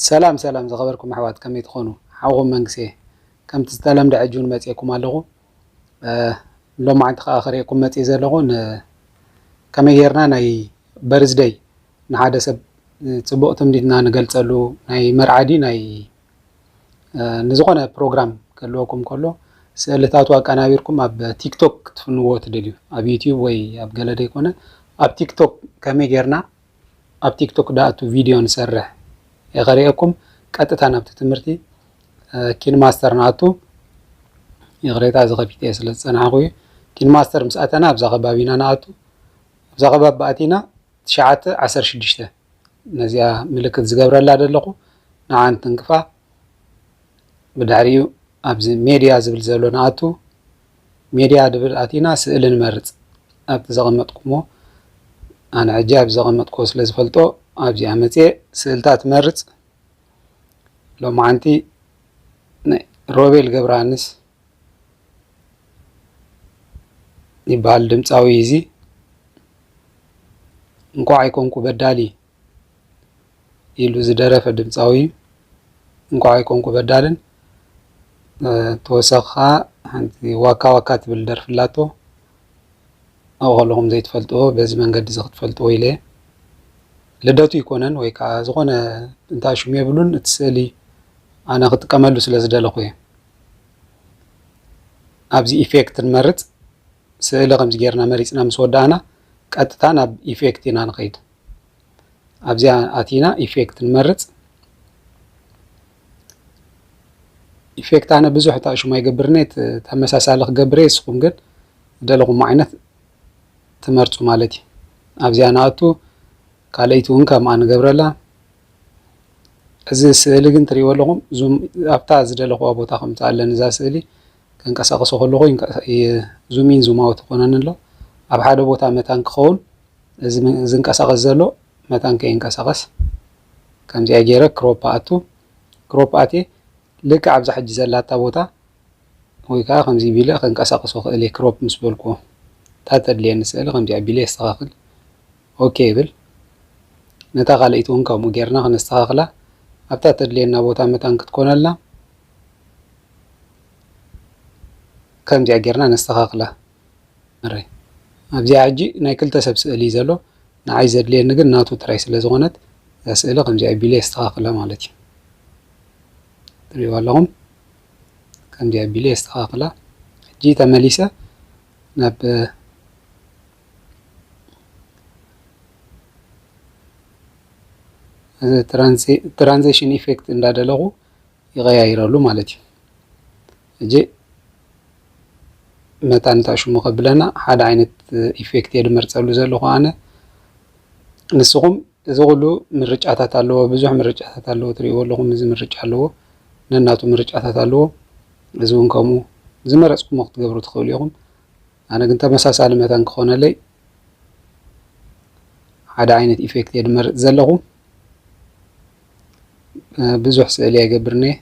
ሰላም ሰላም ዝኸበርኩም ኣሕዋት ከመይ ትኾኑ ሓውኹም መንግስየ ከምቲ ዝተለምደ ሕጂ ውን መጽኤኩም ኣለኹ ሎማዓንቲ ከኣ ክርኤኩም መጽኤ ዘለኹ ን ከመይ ጌርና ናይ በርዝደይ ንሓደ ሰብ ጽቡቕ ትምኒትና ንገልጸሉ ናይ መርዓ ድዩ ናይ ንዝኾነ ፕሮግራም ክህልወኩም ከሎ ስእልታቱ ኣቀናቢርኩም ኣብ ቲክቶክ ክትፍንዎ ትደልዩ ኣብ ዩቲዩብ ወይ ኣብ ገለ ደይኮነ ኣብ ቲክቶክ ከመይ ጌርና ኣብ ቲክቶክ ዳኣቱ ቪድዮ ንሰርሕ የኸሪኤኩም ቀጥታ ናብቲ ትምህርቲ ኪን ማስተር ንኣቱ ይቕሬታ እዚ ከፊተ ስለ ዝጸናሕኩ እዩ ኪን ማስተር ምስ ኣተና ኣብዛ ከባቢ ኢና ንኣቱ ኣብዛ ከባቢ ኣቲና ትሽዓተ ዓሰርተ ሽዱሽተ ነዚኣ ምልክት ዝገብረላ ዘለኹ ንዓን ትንክፋ ብድሕሪኡ ኣብዚ ሜድያ ዝብል ዘሎ ንኣቱ ሜድያ ድብል ኣቲና ስእሊ ንመርጽ ኣብቲ ዘቐመጥኩሞ ኣነ ሕጂ ኣብዚ ዘቐመጥኩዎ ስለ ዝፈልጦ ኣብዚኣ መጽየ ስእልታት እመርጽ ሎማዓንቲ ናይ ሮቤል ገብረሃንስ ይበሃል ድምጻዊ እዚ እንኳዕ ኣይኮንኩ በዳሊ ኢሉ ዝደረፈ ድምፃዊ እዩ። እንኳዕ ኣይኮንኩ በዳልን ተወሳኺ ኸዓ ሓንቲ ዋካ ዋካ ትብል ደርፊ ኣላቶ ኣብኡ ከለኹም ዘይትፈልጥዎ በዚ መንገዲ እዚ ክትፈልጥዎ ኢለ እየ። ልደቱ ኣይኮነን ወይ ከዓ ዝኾነ እንታይ ሽሙ የብሉን እቲ ስእሊ ኣነ ክጥቀመሉ ስለ ዝደለኹ እየ። ኣብዚ ኢፌክት ንመርፅ ስእሊ ከምዚ ገይርና መሪፅና ምስ ወዳእና ቀጥታ ናብ ኢፌክት ኢና ንኸይድ። ኣብዚኣ ኣቲና ኢፌክት ንመርፅ ኢፌክት ኣነ ብዙሕ እታ ሽሙ ኣይገብርኒ ተመሳሳሊ ክገብር እየ ንስኹም ግን ዝደለኹም ዓይነት ትመርፁ ማለት እዩ ኣብዚኣ ንኣቱ ካልኣይቲ እውን ከምኣ ንገብረላ እዚ ስእሊ ግን ትሪእዎ ኣለኹም ዙም ኣብታ ዝደለኹዋ ቦታ ከምፃ ኣለኒ እዛ ስእሊ ከንቀሳቐሶ ከለኹ ዙም ኢን ዙም ኣውት ይኮነኒ ኣሎ ኣብ ሓደ ቦታ መታን ክኸውን እዚ ዝንቀሳቀስ ዘሎ መታን ከይንቀሳቀስ ከምዚኣ ጌረ ክሮፕ ኣኣቱ ክሮፕ ኣትየ ልክዕ ኣብዛ ሕጂ ዘላታ ቦታ ወይ ከዓ ከምዚ ቢለ ከንቀሳቅሶ ክእል እየ ክሮፕ ምስ በልኩዎ እታ ተድልየኒ ስእሊ ከምዚ ኣቢለ የስተካክል ኦኬ ይብል ነታ ካልኣይቲ እውን ከምኡ ጌርና ክነስተካክላ ኣብታ ተድልየና ቦታ መታን ክትኮነልና ከምዚኣ ጌርና ነስተካክላ ኣብዚኣ ሕጂ ናይ ክልተ ሰብ ስእሊ እዩ ዘሎ ንዓይ ዘድልየኒ ግን ናቱ ጥራይ ስለ ዝኾነት እዛ ስእሊ ከምዚ ኣቢለ የስተኻኽላ ማለት እዩ ትሪእዋ ኣለኹም ከምዚ ኣቢለ የስተኻኽላ ሕጂ ተመሊሰ ናብ እዚ ትራንዚሽን ኢፌክት እንዳደለኹ ይቀያይረሉ ማለት እዩ ሕጂ መታን እንታይ ሽሙ ከብለና ሓደ ዓይነት ኢፌክት እየ ድመርፀሉ ዘለኹ ኣነ ንስኹም እዚ ኩሉ ምርጫታት ኣለዎ ብዙሕ ምርጫታት ኣለዎ ትሪእዎ ኣለኹም እዚ ምርጫ ኣለዎ ነናቱ ምርጫታት ኣለዎ እዚ እውን ከምኡ ዝመረፅኩሞ ክትገብሩ ትኽእሉ ኢኹም ኣነ ግን ተመሳሳሊ መታን ክኾነለይ ሓደ ዓይነት ኢፌክት እየ ድመርፅ ዘለኹ ብዙሕ ስእሊ ኣይገብርንየ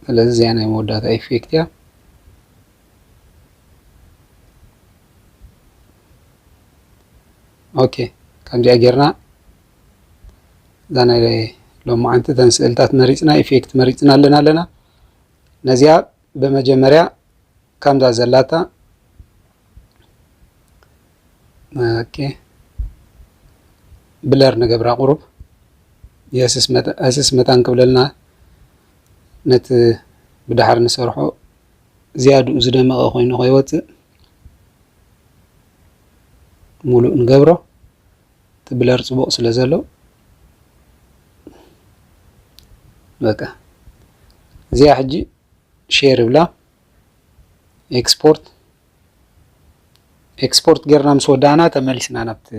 ስለዚ እዚኣ ናይ መወዳእታ ኢፌክት እያ ኦኬ ከምዚኣ ጌርና እዛ ናይ ሎማዓንቲ እተን ስእልታት መሪፅና ኢፌክት መሪፅና ኣለና ኣለና ነዚኣ ብመጀመርያ ከምዛ ዘላታ ኦኬ ብለር ንገብራ ቁሩብ የስስ መታን ክብለልና ነቲ ብድሓር ንሰርሖ ዝያድኡ ዝደመቐ ኮይኑ ከይወፅእ ሙሉእ ንገብሮ እቲ ብለር ፅቡቕ ስለ ዘሎ በቃ እዚኣ ሕጂ ሼር እብላ ኤክስፖርት ኤክስፖርት ጌርና ምስ ወዳእና ተመሊስና ናብቲ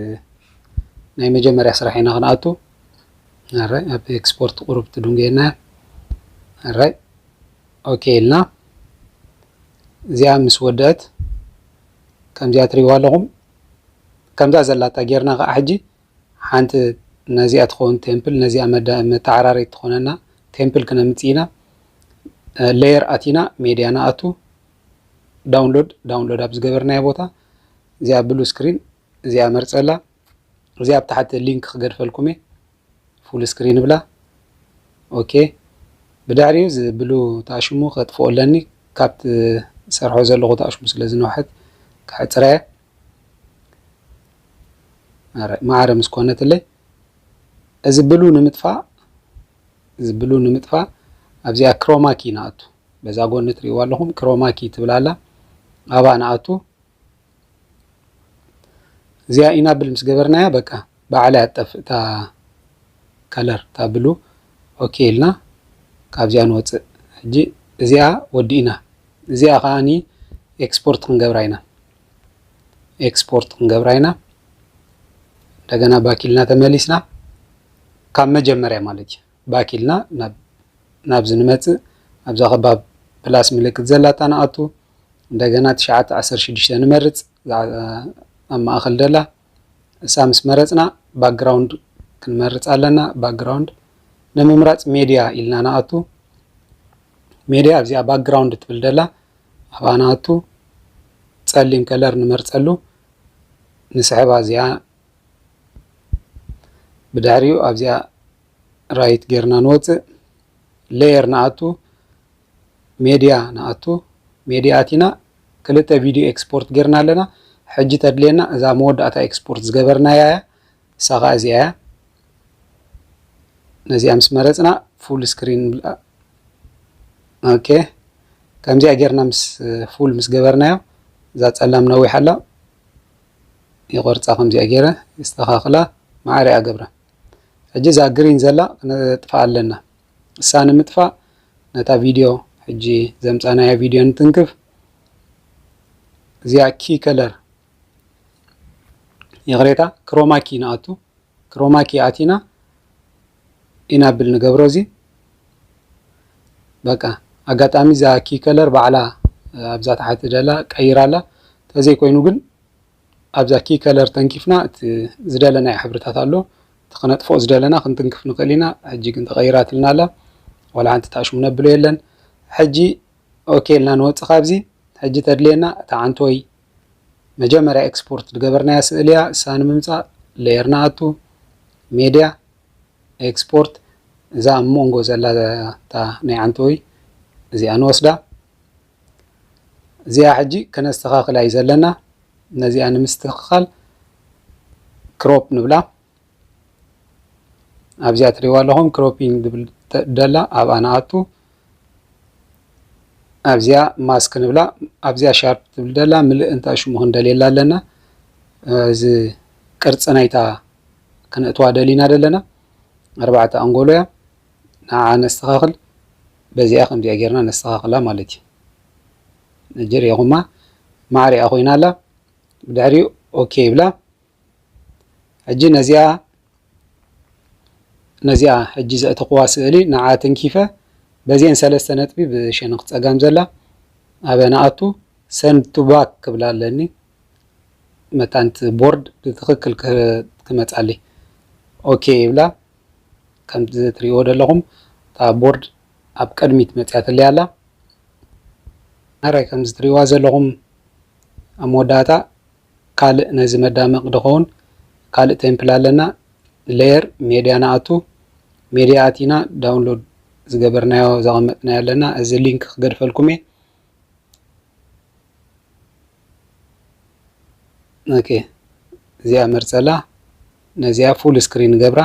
ናይ መጀመርያ ስራሕ ኢና ክንኣቱ ኣራይ ኣብ ኤክስፖርት ቁሩብ ትድንጎየና ኣራይ ኦኬ ኢልና እዚኣ ምስ ወደአት ከምዚኣ ትሪእዋ ኣለኹም ከምዛ ዘላታ ጌርና ከዓ ሕጂ ሓንቲ ነዚኣ ትኸውን ቴምፕል ነዚኣ መተዓራረይት ትኾነና ቴምፕል ክነምፅእ ኢና ሌየር ኣቲና ሜድያ ንኣቱ ዳውንሎድ ዳውንሎድ ኣብ ዝገበርናዮ ቦታ እዚኣ ብሉ ስክሪን እዚኣ መርፀላ እዚኣ ኣብ ታሕቲ ሊንክ ክገድፈልኩም እየ ፉል ስክሪን ብላ ኦኬ ብድሕሪኡ እዚ ብሉ ተኣሽሙ ከጥፍኦ ኣለኒ ካብቲ ሰርሖ ዘለኹ ተኣሽሙ ስለ ዝነውሐት ክሕፅራ እየ ማዕረ ምስ ኮነትለይ እዚ ብሉ ንምጥፋእ እዚ ብሉ ንምጥፋእ ኣብዚኣ ክሮማኪ ንኣቱ በዛ ጎኒ ትሪእዋ ኣለኹም ክሮማኪ ትብል ኣላ ኣብኣ ንኣቱ እዚኣ ኢናብል ምስ ገበርናያ በቃ ባዕላይ ኣጠፍእ እታ ከለር እታ ብሉ ኦኬ ኢልና ካብዚኣ ንወፅእ ሕጂ እዚኣ ወዲእና እዚኣ ከዓኒ ኤክስፖርት ክንገብራ ኢና ኤክስፖርት ክንገብራ ኢና እንደገና ባኪልና ተመሊስና ካብ መጀመርያ ማለት እዩ ባኪልና ናብዚ ንመፅእ ኣብዛ ከባብ ፕላስ ምልክት ዘላታ ንኣቱ እንደገና ትሽዓተ ዓሰርተ ሽዱሽተ ንመርፅ ኣብ ማእኸል ደላ እሳ ምስ መረፅና ባክግራውንድ ክንመርፅ ኣለና ባክግራውንድ ንምምራፅ ሜድያ ኢልና ንኣቱ ሜድያ ኣብዚኣ ባክግራውንድ ትብል ደላ ኣብኣ ንኣቱ ጸሊም ከለር ንመርጸሉ ንስሕባ እዚኣ ብድሕሪኡ ኣብዚኣ ራይት ጌርና ንወፅእ ሌየር ንኣቱ ሜድያ ንኣቱ ሜድያ ኣቲና ክልተ ቪድዮ ኤክስፖርት ጌርና ኣለና ሕጂ ተድልየና እዛ መወዳእታ ኤክስፖርት ዝገበርናያ እያ ንሳ ከዓ እዚኣ እያ ነዚኣ ምስ መረፅና ፉል ስክሪን ንብላ ኦኬ ከምዚኣ ጌርና ምስ ፉል ምስ ገበርናዮ እዛ ፀላም ነዊሕ ኣላ ይቆርፃ ከምዚኣ ገይረ የስተኻኽላ መዓረ እያ ገብረ ሕጂ እዛ ግሪን ዘላ ክነጥፍኣ ኣለና እሳ ንምጥፋእ ነታ ቪድዮ ሕጂ ዘምፃናያ ቪድዮ ንትንክፍ እዚኣ ኪ ከለር ይቕሬታ ክሮማኪ ንኣቱ ክሮማኪ ኣቲና ኢና ብል ንገብሮ እዚ በቃ ኣጋጣሚ እዛ ኪ ከለር ባዕላ ኣብዛ ተሓቲ ደላ ቀይራ ኣላ ተዘይ ኮይኑ ግን ኣብዛ ኪ ከለር ተንኪፍና እቲ ዝደለናዮ ሕብርታት ኣሎ እቲ ክነጥፎ ዝደለና ክንትንክፍ ንኽእል ኢና ሕጂ ግን ተቐይራትልና ኣላ ዋላ ሓንቲ ታሽሙ ነብሎ የለን ሕጂ ኦኬ ኢልና ንወፅእ ካብዚ ሕጂ ተድልየና እታ ዓንቶይ መጀመርያ ኤክስፖርት ዝገበርናያ ስእሊ እያ እሳ ንምምፃእ ሌየር ንኣቱ ሜድያ ኤክስፖርት እዛ ኣብ ሞንጎ ዘላ እታ ናይ ዓንተወይ እዚኣ ንወስዳ እዚኣ ሕጂ ከነስተኻኽላ እዩ ዘለና ነዚኣ ንምስትኽኻል ክሮፕ ንብላ ኣብዚኣ ትሪእዋ ኣለኹም ክሮፒንግ ዝብል ደላ ኣብኣ ንኣቱ ኣብዚኣ ማስክ ንብላ ኣብዚኣ ሻርፕ ትብል ደላ ምልእ እንታይ ሽሙ ክንደልየላ ኣለና እዚ ቅርፂ ናይታ ክነእትዋ ደሊና ደለና ኣርባዕተ ኣንጎሎ እያ ንዓ ነስተኻኽል በዚኣ ከምዚኣ ጌርና ነስተኻኽላ ማለት እዩ ነጀር የኹማ ማዕሪኣ ኮይና ኣላ ብድሕሪኡ ኦኬ ይብላ ሕጂ ነዚኣ ነዚኣ ሕጂ ዘእተኹዋ ስእሊ ንዓ ተንኪፈ በዚኤን ሰለስተ ነጥቢ ብሸነኽ ጸጋም ዘላ ኣበይ ንኣቱ ሰንድ ቱ ባክ ክብላ ኣለኒ መታንቲ ቦርድ ብትኽክል ክመጻሊ ኦኬ ይብላ ከምዚ ትሪእዎ ዘለኹም እታ ቦርድ ኣብ ቅድሚት መጽያ ትለያ ኣላ ናራይ ከምዚ ትሪእዋ ዘለኹም ኣብ መወዳእታ ካልእ ነዚ መዳመቂ ድኮውን ካልእ ቴምፕል ኣለና Layer ሜድያ ንኣቱ ሜድያ ኣቲና ዳውንሎድ ዝገበርናዮ ዘቀመጥናዮ ኣለና እዚ ሊንክ ክገድፈልኩም እየ ኦኬ እዚኣ መርጸላ ነዚኣ ፉል ስክሪን ገብራ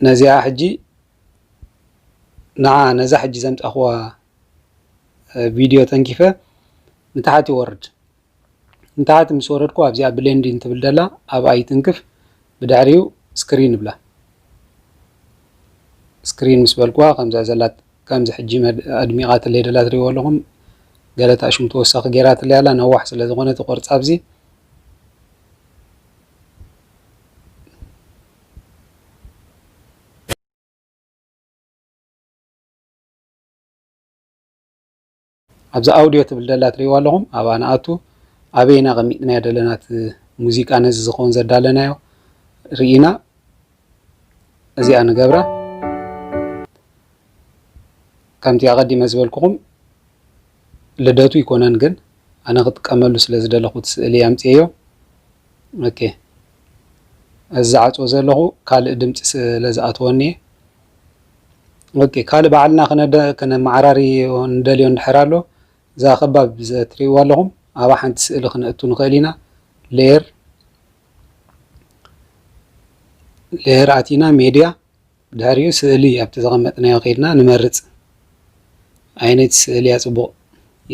ነዚኣ ሕጂ ንዓ ነዛ ሕጂ ዘምጻኹዋ ቪድዮ ተንኪፈ ንታሕት ይወርድ። ንታሕት ምስ ወረድኩ ኣብዚኣ ብሌንዲን ትብል ደላ ኣብኣ ይትንክፍ ብድሕሪኡ ስክሪን እብላ። ስክሪን ምስ በልኩዋ ከምዛ ዘላ ከምዚ ሕጂ ኣድሚቓትለይ ደላ ትሪእዎ ኣለኹም ገለ ታእሽሙ ተወሳኺ ጌራትለይ ኣላ ነዋሕ ስለ ዝኾነት ይቆርጻ ኣብዚ ኣብዚ ኣውድዮ ትብል ደላ ትሪእዋ ኣለኹም ኣብኣ ንኣቱ ኣበይና ቀሚጥናዮ ደለና እቲ ሙዚቃ ነዚ ዝኸውን ዘዳለናዮ ርኢና እዚኣ ንገብራ ከምቲ ኣቐዲመ ዝበልኩኹም ልደቱ ይኮነን ግን ኣነ ክጥቀመሉ ስለ ዝደለኹት ስእሊ ኣምፅዮ ኦኬ እዚ ዝዓፅዎ ዘለኹ ካልእ ድምፂ ስለ ዝኣተወኒ ኦኬ ካልእ ባዕልና ክነመዓራሪ ንደልዮ እንድሕር ኣሎ እዛ ከባብ ትሪእዋ ኣለኹም ኣብኣ ሓንቲ ስእሊ ክነእቱ ንኽእል ኢና ሌየር ሌየር ኣቲና ሜድያ ድሕሪኡ ስእሊ ኣብቲ ዘቐመጥናዮ ከይድና ንመርፅ ዓይነት ስእሊ እያ ፅቡቕ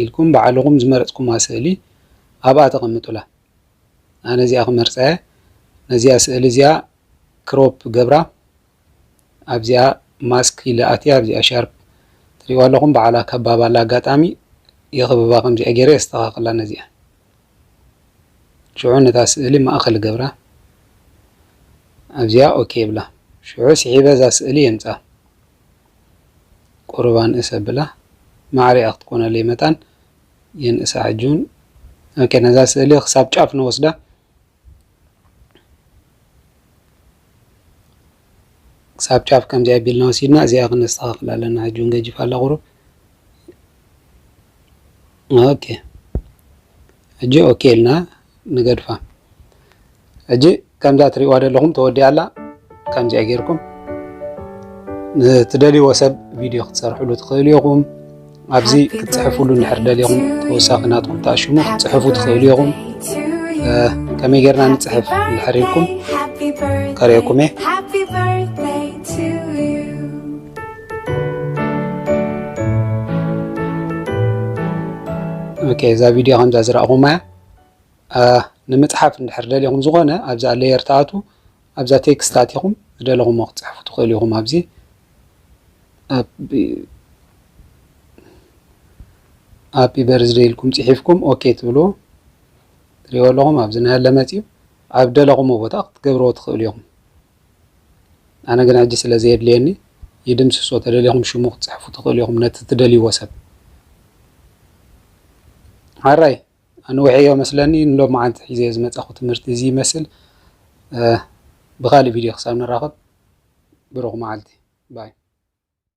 ኢልኩም ባዕልኹም ዝመረፅኩማ ስእሊ ኣብኣ ተቐምጡላ ኣነ እዚኣ ክመርፀ እየ ነዚኣ ስእሊ እዚኣ ክሮፕ ገብራ ኣብዚኣ ማስክ ኢለ ኣትየ ኣብዚኣ ሻርፕ ትሪእዋ ኣለኹም በዓላ ከባብ ኣላ ኣጋጣሚ የኽብባ ከምዚኣ ገይረ የስተኻኽላ ነዚኣ ሽዑ ነታ ስእሊ ማእኸል ገብራ ኣብዚኣ ኦኬ ይብላ ሽዑ ስሒበ እዛ ስእሊ የምፃ ቁርባን እሰ ብላ ማዕሪኣ ክትኮነለይ መታን የንእሳ ሕጂ እውን ኦኬ ነዛ ስእሊ ክሳብ ጫፍ ንወስዳ ክሳብ ጫፍ ከምዚ ኣቢልና ወሲድና እዚኣ ክነስተኻኽል ኣለና ሕጂ እውን ገጅፍ ኣላ ቁሩብ ኦኬ ሕጂ ኦኬ ኢልና ንገድፋ ሕጂ ከምዛ ትሪእዋ ዘለኹም ተወዲኣ ኣላ ከምዚኣ ጌርኩም ንትደልይዎ ሰብ ቪድዮ ክትሰርሕሉ ትኽእሉ ኢኹም ኣብዚ ክትጽሕፍሉ እንድሕር ደሊኹም ተወሳኺ ናትኩም ተኣሽሙ ክትጽሕፉ ትኽእሉ ኢኹም ከመይ ጌርና ንጽሕፍ እንድሕር ኢልኩም ከርእየኩም እየ ኦኬ እዛ ቪድዮ ከምዛ ዝረእኹማ እያ ንምጽሓፍ እንድሕር ደሊኹም ዝኾነ ኣብዛ ሌየር ተኣቱ ኣብዛ ቴክስት ኣቲኹም ዝደለኹሞ ክትጽሕፉ ትኽእሉ ኢኹም ኣብዚ ኣብ ሃፒ በርዝደይ ኢልኩም ጽሒፍኩም ኦኬ ትብልዎ ትሪእዎ ኣለኹም ኣብዚ ናያለ መጺኡ ኣብ ደለኹሞ ቦታ ክትገብርዎ ትኽእሉ ኢኹም ኣነ ግን ሕጂ ስለ ዘየድልየኒ ይድምስሶ ተደሊኹም ሽሙ ክትጽሕፉ ትኽእሉ ኢኹም ነቲ ትደልይዎ ሰብ ሓራይ ኣንዊሐዮ መስለኒ ንሎማዓንቲ ሒዘዮ ዝመጻኹ ትምህርቲ እዚ ይመስል ብኻሊእ ቪድዮ ክሳብ ንራኸብ ብሩኽ ማዓልቲ ባይ።